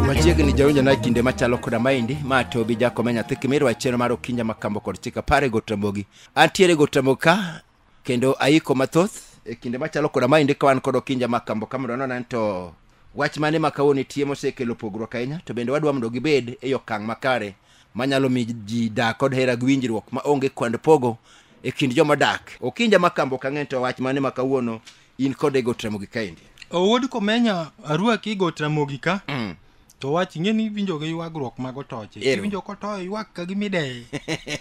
machiegni jawinjo na kinde machalo koda maendi ma tobi jakome nyathi kimirwa chenro mar okinja makambo kod chika pare gotramogi antiere gotramogi ka kendo aiko mathoth e kinde machalo koda maendi ka wan kod okinja ma kambo ka mondo nonane to wach mane ma kawuono nitie mosekelo pogruok ahinya to bende wadwa mondo gibed e okang' makare manyalo mi ji dak kod hera gi winjruok ma onge kwand pogo e kind joma dak okinja ma kambo kang'eny to wach mane ma kawuono in kod e got ramogi kaendi owuod komenya arwaki got ramogi ka mm. to wach ing'e ni iwinjo gi ywagruok mag otoche Ero. iwinjo kotoyo ywak ka gimideye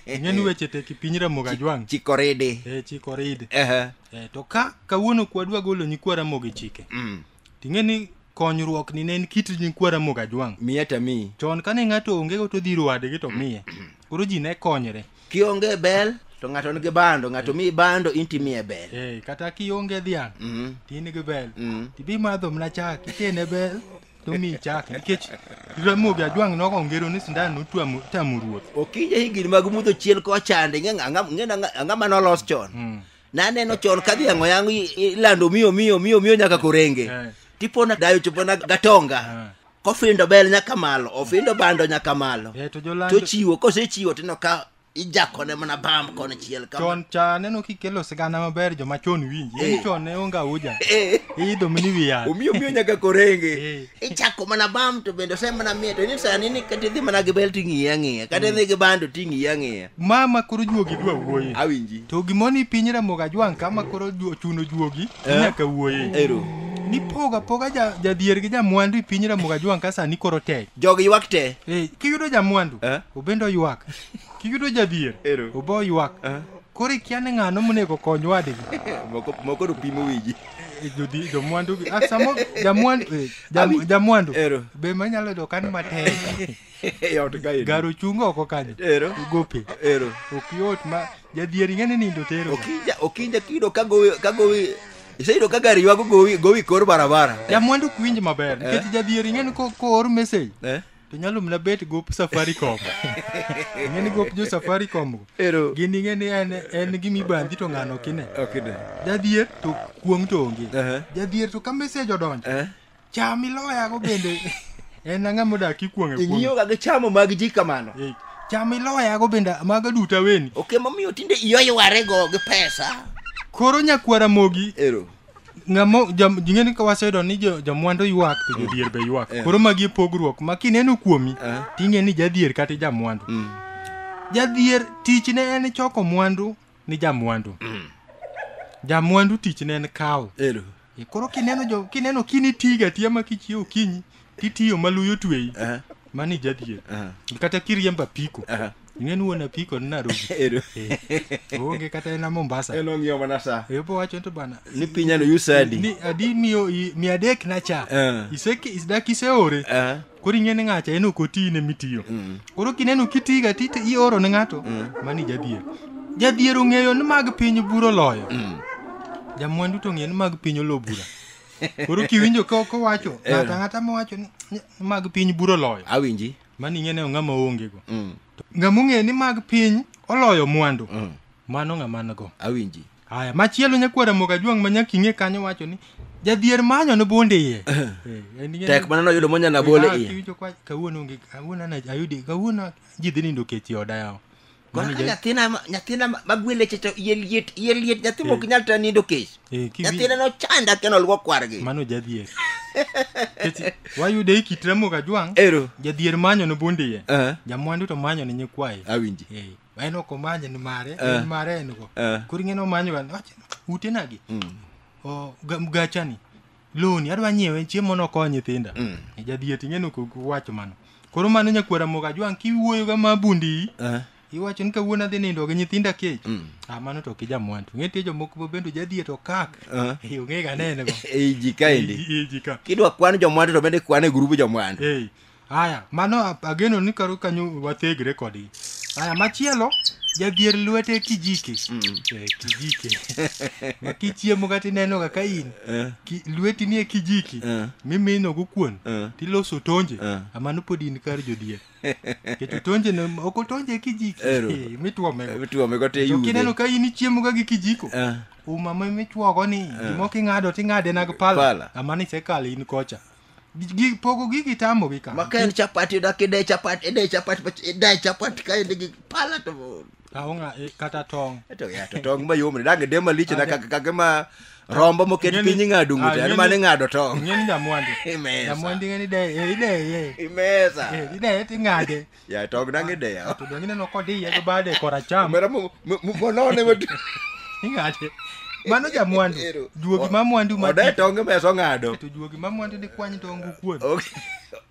ing'e ni weche tek e piny ramogi ajwang' chikoridi e chikoridi Ehe. e, to ka kawuono kwadwa golo nyikwa ramogi chike Mm. ting'e ni konyruok ni ne en kit nyikwa ramogi ajwang' miya tami chon kane ng'ato ongego to dhiro wadgi to miye koro ji ne konyre kionge bel to ng'ato nigi bando ng'ato miyi bando in timiye bel Eh, kata kionge dhiang' Mhm. to in gi bel Mhm. tibi madho mna chak ikene bel to miyi chak nikech ramogi ajwang' nogo ongero ni sindan notwamo- tamo ruoth okinje higni mag mudho chiel kochande ang'ama nolos chon Mm. naneno chon ka dhiang' oyang' i- ilando miyo miyo miyo miyo nyaka korenge Eh. tipona dayo chopona gatonga kofindo bel nyaka malo ofindo bando nyaka malo Eh, to jolando- tochiwo kosechiwo tino ka ijakone mana bam kone chiel kama chon cha aneno kikelo sigana maber joma chon winji Eh. in chon ne onge auja Eh. iidho mini wi yath omiyo omiyo nyaka korenge Eh. ichako mana bam to bende ose mana miye to ni sani ni kata idhi mana gi bel ting'iye ang'iya kata idhi gi bando ting'iye ang'iya Mama koro juogi dwa wuoye. Awinji. To gimoni piny Ramogi Ajwang' ka ma koro ju- ochuno juogi Eh. nyaka wuoye. Ero. Ni poga poga ja- jadhier gi jamwandu e piny Ramogi Ajwang' ka sani koro tek. Jogi ywak te. Eh, kiyudo jamwandu Eh. obende oywak. Kiyudo jadhier Ero. obe oywak. Eh. Koro ikia ni ng'ano monego kony wadgi. Moko moko do pimo wiji. Eh, jodhi- Jomwandu gi. Ah, samo jamwandu eh, jam- Abi. jamwandu. Ero. Be manyalo yudo kan matek. e ot kaendi garo chung oko kanyo ero gope ero ok yot ma jadhier ing'eni nindo tero okinja okinja kido ka gowi ka gowi iseyudo ka gari ywago gowi gowi kor barabara jamwandu ok winj maber nikech jadhier ing'eni ko- koor message Eh? to nyalo mna bet gop safaricom ing'eni gop jo safaricom go ero gin ing'eni en en gima ibandhi to ng'ano kine okay then jadhier to kuong' to onge Ehe. jadhier to ka message odonjo eh cham iloyago bende en ang'a modak ikuong'e kuong'e ing'iyoga gi chamo mag ji kamano Eh, cham iloyago bende maga duto aweni ok emomiyo tinde iyoywarego gi pesa koro nyakwara mogi ero ngamo jam- jing'eni ka waseyudo ni jo- jamwandu ywak to jodhier be ywak Eh. koro magi e pogruok ma kineno kuomi Eh. ting'e ni jadhier kata jamwandu Mm. jadhier tichne en choko mwandu ni jamwandu jamwandu tichne en kawo ero E, koro kineno jo kineno kini tiga tiya ma kichiew kinyi titiyo ma luyo tweyi Aha, mani jadhier aha, kata kiriemba piko aha. ing'eni wuon apiko ni Nairobi Ero. Eh, onge kata ena Mombasa En ong'iyo mana sa. ebo wacho to bana Ni pinyano usadi. ni adi miyo i- mia adek na cha Eh. iseki dak iseore Aha. koro ing'e ni ng'acha en ok oti ne mitiyo mm. koro kineno kitiga ti ioro ne ng'ato mm. mani jadhier jadhier ong'eyo ni mag piny buro loyo mm. jamwandu to ong'eyo ni mag piny olo bura koro kiwinjo kowacho eh. ng'ato ang'ata mowacho ni mag piny buro loyo awinji mani ing'e ne ong'ama oongego ng'ama ong'eyo ni mag piny oloyo mwandu mano ng'ama go awinji Aya, machielo nyakwar Ramogi Ajwang' ma nyaka ing'e kanyo wacho ni jadhier manyo ne bonde iye. Eh, en ing'e- Tek mana noyudo monyalo bole Ah, iye. kiwinjo kwa- Kawuono onge kawuono ana ayudi kawuono ji dhi nindo kech e oda yawa. Mano Mano ka ja- nyathina ma- nyathina ma- magweleche to iye liet iye liet nyathi mok nyal ta nindo kech eh, kiwi- nyathina nochanda keno luo kwargi mano jadhier. Kech wayude e kit Ramogi Ajwang'. ero Jadhier manyo ne bonde iye. Eh. Jamwandu to manyo ne nyikwaye. awinji Eh, Ma en ok omanye ni mare, Eh. en mare en go. Eh. Koro ing'e ni omanyo ga, wacho, ute nagi. O, ga- mgachani, loni, adwa nyiewe, chiemo nokony nyithinda. Mm. E jadhiet ing'e ni ok ok wacho mano. Koro mano nyakwara moga jwang' kiwuoyo ga ma bundi. Eh. Iwacho ni kawuono adhi nindo gi nyithinda kech. Mm. Ah, mano to kija mwandu. Ing'e tie jomoko ma bende jadhiet okak. Eh. Eh, ong'e ga nene go. Ei ji kaendi. Iji ka. Kidwa kwan jomwandu to bende kwan e grubu jomwandu. Hey, Aya, mano a- ageno ni karo kanyo wathegre kodgi. Aya, machielo jadhier lwete kijike. Eh, kijike. Ma kichiemo kata inenoga ka in Eh. ki- lweti nie kijiki Eh. mimino go kuon Eh. tiloso tonje Eh. amano pod in kar jodhier. Keto tonje ne ok otonje e kijiki Ero. eh, mitwomego. Mitwome go te To yude. kineno ka in ichiemoga gi kijiko Eh. uma ma michwogo ni gimoko ing'ado ting'ade nag Pala. pala amano isekale in kocha Gi- pogo gigi tamogi ka ma ka en chapati yuda ka ide chapati ide chapati but ide chapati ka inde gi pala to aonga eh, kata tong to ya to tong ma yom ni dange de malich na kaka kaka ma rombo moket Ng'eni- piny ing'ado ng'ute Ah, en ng'eni- mane ing'ado tong ing'eni nyamwandu Imesa. nyamwandu ing'eni de eh, ideye imesa Eh, ideye ting'ade ya tog nange de ya to donge ineno kodiye gi bade koracham omera mu- mu- mu- molone madu ing'ade mano jamwandu Ero. juogi ma mwandu ode mati tonge meso ng'ado to juogi ma mwandu dikwany tongu kuon Ok.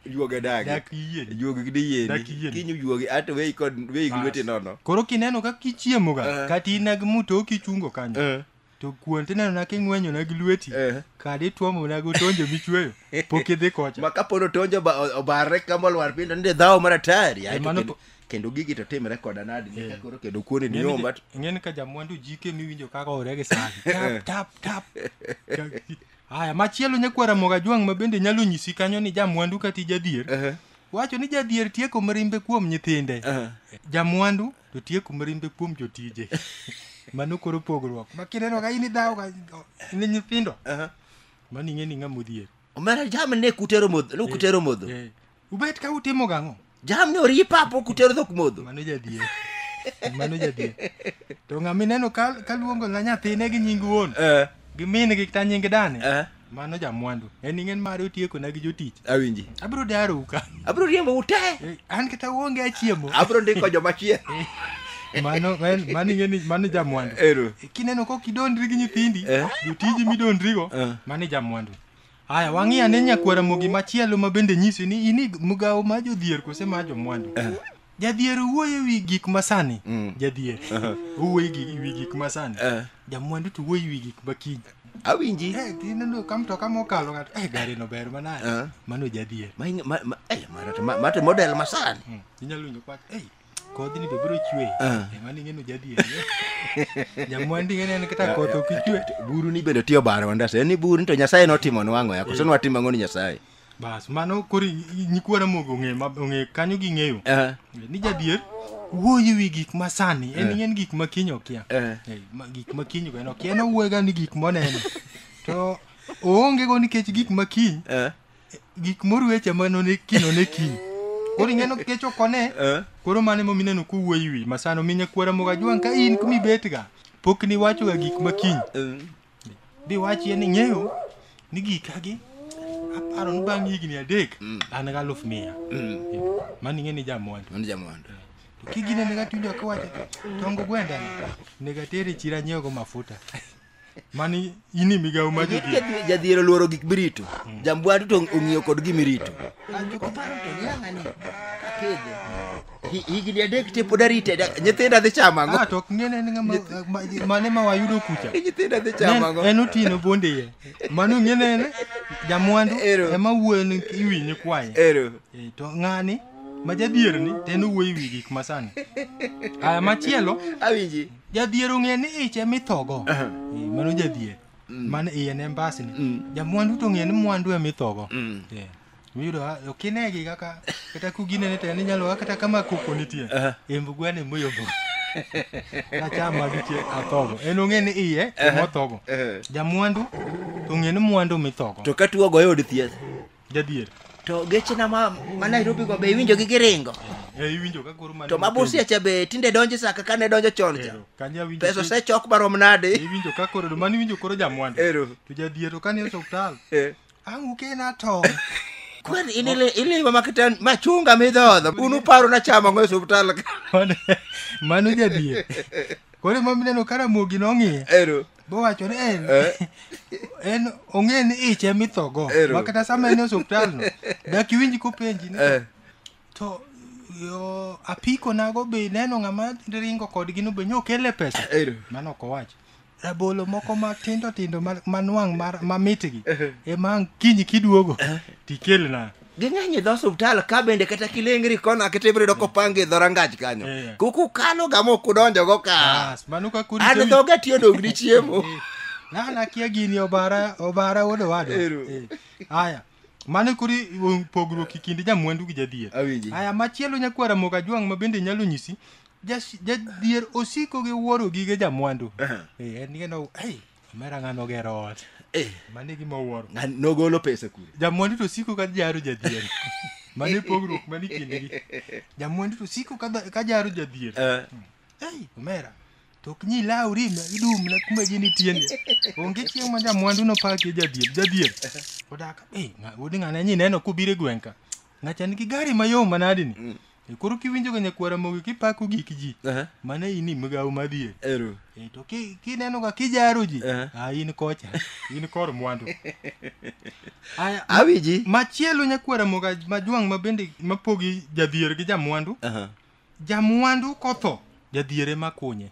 juoge dagi dak iyieni juogi gi diyieni Dak iyieni. kinyu juogi ato weyi kod weyi gi Bas. lweti nono koro kineno ka kichiemoga Eh. kata inag muto kichungo kanyo Eh. to kuon tinenona king'wenyona gi lweti Eh. kadi ituomona go tonjo michweyo pok idhi kocha ma kapono tonjo oba- o- obarre kama olwar piny to nende dhawo mar atari aeto mano kendo- po- kendo gigi to timre koda nadi nika koro kendo kuoni ni nyomba to- ing'eni ka jamwandu jike miwinjo kaka ore gi sani tap tap tap haya machielo nyakwara moga jwang' ma bende nyalo nyisi kanyo ni jamwandu kati jadhier Ehe. wacho ni jadhier tieko mirimbe kuom nyithinde Aha. jamwandu to tieku mirimbe kuom jotije mano koro pogruok ma kineno ka in idhawo ka ne nyithindo Aha. mano ing'e ni ng'ama odhier omera jam ne kutero modho ne kutero modho Eh, ubet ka utimo gang'o jam ne ori papo kutero dhok modho mano jadhier mano jadhier to ng'ama ineno ka ka luongo na nyathine gi nying wuon Eh, gi min gi kata nying dane eh. mano jamwandu en ing'en mare otiekona gi jotich awinji abiro darou ka abiro riembo ute Eh, an kata uonge achiemo abiro ndiko joma chie mano en- mano ing'eni mano jamwandu ero kineno kok idondri gi nyithindi Eh. jotiji midondrigo Eh. mano jamwandu haya wang'i ane nyakwara mogi machielo ma bende nyisi ni ini mgawo ma jodhier kose ma jomwandu Jadhier wuoyo e wi gik masani. Mm. Jadhier wuoyo e wi gik masani. Eh. Jamwandu to wuoyo e wi gik makiny. Awinji. Eh, kineno ka mtoka mokalo ng'ato, eh gari no ber manade. Eh. Mano jadhier. Ma ma ma eh marate ma mate model masani. Mm. Inyalo winjo kwach, eh kodhi ni be biro chwe. Eh. Eh, mano ing'eno jadhier. Jamwandu ing'eno en kata koth ok ichwe. Buru ni bende tiyo baro ndase. Ni buru ni to Nyasaye notimo nwango yako. Seno watimo ng'oni Nyasaye. bas mano koro nyikwa ramogi ong'e ma- ong'e kanyo ging'eyo Eh, ni jadier wuoyi wi gik ma sani en en gik ma kiny okia Eh. Eh, ma- gik ma kiny en okia en owuoyega ni gik moneno to oonge go nikech gik ma kiny eh, gik morueche ma none kino ne kiny koro ing'eno kech ok one eh. koro mane mo mineno kuwuoyi wi masano minya kwara moga juang ka in kumibetga pok niwachoga gik ma kiny Mm. Bi wachie ni ng'eyo ni gika gi aparo ni bang' higni adek mm. an ga aluf mia. Mm. Mano ing'e ni jamwandu. Mano jamwandu. To kigine ne gatundo kawacho tongo gwenda ne gatere chira nyiewo go mafuta. mani ini migawo ma jadhier oluoro gik mirito mm. jambwandu to ong'iyo kod gimirito Hi- higni adek te pod arite dak- nyithinda dhi chamo ang'o Ah, to ok ng'ene ni ng'ama- ma- mane ma wayudo kucha nyithinda dhi chamo Ne- ang'o en otieno bonde ye mano ng'ene en jamwandu Ero. ema wuoyo ni iwinyi kwanye ero Eh, to ng'ani ma jadhier ni to en owuoyo iwi gik masani aya machielo awinji jadhier ong'e ni ich ema ithogo Eh, mano jadhier mano iye ne mbasni jamwandu to ong'e ni mwandu ema ithogo Eh. Miyudo ha- ok inegi kaka kata kuginene to en inyalo kata kama koko nitie embu gwene moyombo nachama gitie athogo en ong'e ni iye emothogo jamwandu to ong'e ni mwandu mithogo to ka tuo goyo od thieth jadier to gechena ma, ma nairobi go be iwinjo gi giringo e iwinjo ka koro mane to ma busia cha be tinde donjo saka ka ne donjo chon cha Ero, kanya winjo pesa ki- osechok marom nade iwinjo ka koro mani winjo koro jamwandu Ero. to jadier to kane osuptal Eh. Anguke na to. Kwani in ile ile mama kitan machunga midhodho. Unu paro na chama ng'o e osiptal. ka. Mano- Mano jadie. Koro mama neno ka Ramogi nong'iye. Ero. Bowacho ni en Eh. en ong'e ni ich ema ithogo. Ero. Ma kata sama en e osiptal no. Dak iwinj kopenji ni Eh. to yo apiko nago be neno ng'ama ringo kodgi no be nyokele pesa. Ero. Mano ok owacho. rabolo moko matindo tindo ma- manwang' mar- mamitgi ema ang' kiny kiduogo tikelna ging'eny e dho osuptal ka bende kata kilengri kona kata ibiro yudo kopangi e dho rangach kanyo Eh. kukukalo ga mok udonjogo ka Bas, mano ka kudi an to- dhoga tiyo dong ni chiemo na nakia gini obara obara wuod owada Ero. Eh, haya mano kuri um, pogruok e kind jamwandu gi jadhier Awinji. haya machielo nyakwara moga jwang' ma bende nyalo nyisi Jas- jadhier osiko gi wuoro gige jamwandu Aha. Eh, en geno ei omera ng'ano ogero ot Eh, mano e gima owuoro ng'ani nogolo pesa kure jamwandu to siko ka jaro jadhier mano e pogruok mani kindgi jamwandu to siko ka dha- ka jaro jadhier Eh, ei omera to ok nyi lawri ma idum na kuma ji nitieni onge chieng' ma jamwandu nopaki jadhier jadhier odak ei ng'a- wuod ng'ane nyi neno kubire gweng'ka ng'acha nigi gari mayom manadini E koro kiwinjo ga nyakwara mogi kipako gik ji Aha. mano in migawo madhier Ero. e to ki- kineno ga kijaro ji Eh. a in kocha in kor mwandu Aya, ma- Awiji. machielo nyakwara moga majwang' ma bende mapogi jadhier gi jamwandu Aha. jamwandu kotho jadhier ema kunye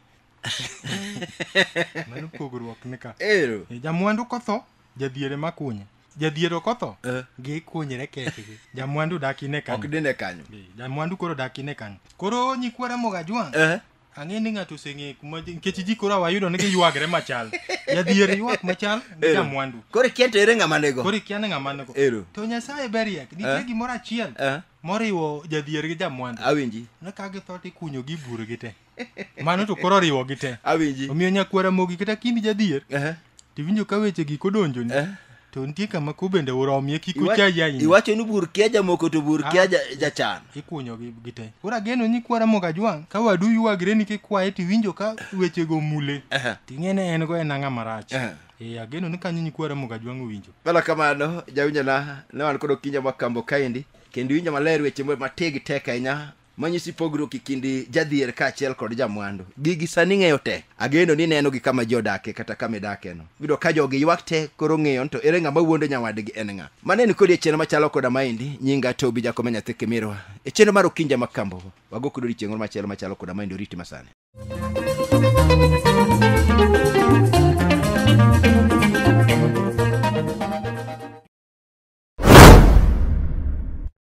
mano pogruok nika ero E, jamwandu kotho jadhier ema kunye jadhier ok otho Eh. gikunyre kekgi jamwandu dak ine ok kanyo dine kanyo Be, jamwandu koro dak ine kanyo koro nyikwa ramogi ajwang' Eh, ang'e ni ng'ato oseng'e kuma ji- nikech ji koro awayudo ni giywagre machal jadhier ywak machal gi ero. jamwandu koro ikia to ere ng'ama nego koro ikia ni ng'ama nego Ero. to nyasaye beriek nitie Eh. gimoro achiel Eh. moriwo jadhier gi jamwandu awinji ne ka githo to ikunyogi iburgi te mano to koro oriwo gi te awinji omiyo nyakwara mogi kata kindi jadhier Ehe, tiwinjo ka weche gik odonjoni eh. to nitie kama ko bende uromie kik Iwa- uchayi ahinya iwacho ni bur kia jamoko to bur kia ja- jachan ikunyo gi gi te koro ageno ni kwara moga jwang' ka wadu ywagre ni kikwaye tiwinjo ka wechego mule Ehe. ting'e ne en go en ang'a marach Ehe. ee ageno ni kanyo nyikwara moga jwang' owinjo bala kamano jawinjona ne wan kod okinja makambo kaendi kendo winjo maler weche ma- mategi tek ahinya manyisi pogruok e kind jadhier kaachiel kod jamwandu gigi sani ng'eyo tek ageno ni neno gi kama ji odake kata kama idakeno yudo ka jogi ywak tek koro ng'eyo ni to ere ng'ama wuondo nyawadgi en ng'a mane ni kodi e chenro machalo koda maendi nyinga tobi jakome nyathi kimirwa e chenro mar okinja ma kambo wago kod odiechieng' moro machielo machalo koda maendi oriti masani